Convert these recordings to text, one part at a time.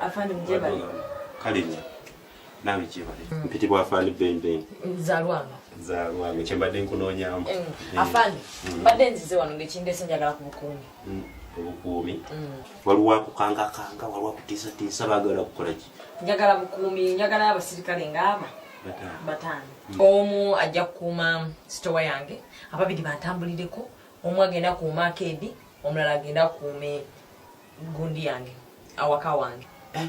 afande mjebale kale nyo nawe jebale mm. mpiti bwa afande bembe zalwanga zalwanga kyembadde nkunoonyamu mm. mm. afande mm. badde nzize wano ngekindese njagala ku bukuumi mm. obukuumi mm. waliwo akukangakanga waliwo akutiisatiisa bagala kukola ki njagala bukuumi njagala abasirikale ngaaba bataano mm. omu ajja kukuuma sitowa yange ababiri bantambulireko omu agenda kuuma akeedi omulala agende akuume gundi yange awaka wange eh?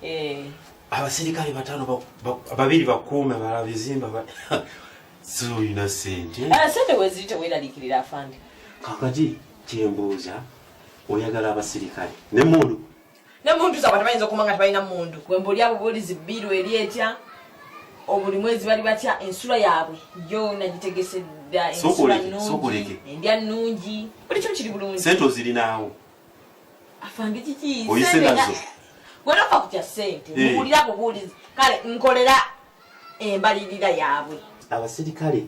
Eh. abaserikale batano babiri bakuume bala bizimba siulina sente eh, sente weziri teweralikirira afande kakaki kyembuuza oyagala abaserikale nemundu ne mundu zabwe tebayinza okuma nga tebalina mundu wemba oli abo bolizi biru eri etya obuli mwezi bali batya ensula yaabwe yona gitegese dda ensula nungi endya nungi buli kimu kiri bulungi sente ozirinaawo afande kiki oyise nazo gwenofa kutya sente eh. muwulira bubuulizi kale nkolera embalirira yaabwe abasirikale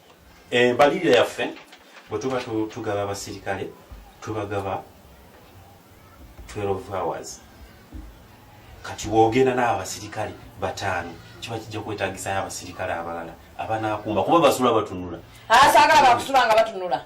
embalirira yaffe bwe tuba tugaba abasirikale tubagaba 12 hours kati wogenda n'abo abasirikale bataano kiba kijja kwetagisayo abasirikale abalala abanakuuma kuba basula batunula asagala ah, bakusula nga batunula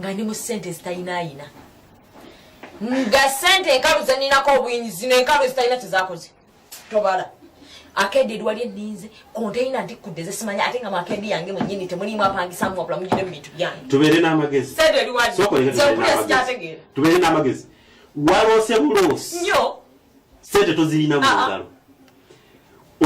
nga ndi mu sente ezitayinaayina nga sente enkalu zeninako obuyinzi zino enkalu ezitalina kyezakoze tobala akeedi edwali eninze konteyina ntikudde zesimanya ate nga makeedi yange mwenyini temulimu apangisamu wabula mujire mubintu byange tubeere n'amagezi sente eriwazekyategeera tubeere n'amagezi waloose buloosi nyo sente tozirina mu ah, ah. ngalo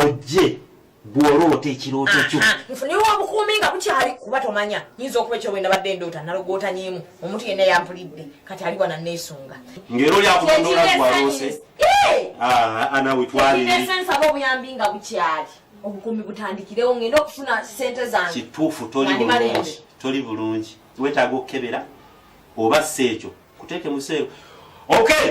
ojje bw'oloota ekirooto kyo nfuniwa obukuumi nga bukyali kuba tomanya nyinza okuba ekyo bwenda badde ndoota nalogootanyiimu omuntu yenna yampulidde kati ali wana neesunga ngero lyakubandoolagwaloose anawitwalinsaba obuyambi nga bukyali obukuumi butandikirewo ngenda okufuna sente zange kituufu toli bulungi wetaaga okukebera oba si ekyo kuteeke museero okay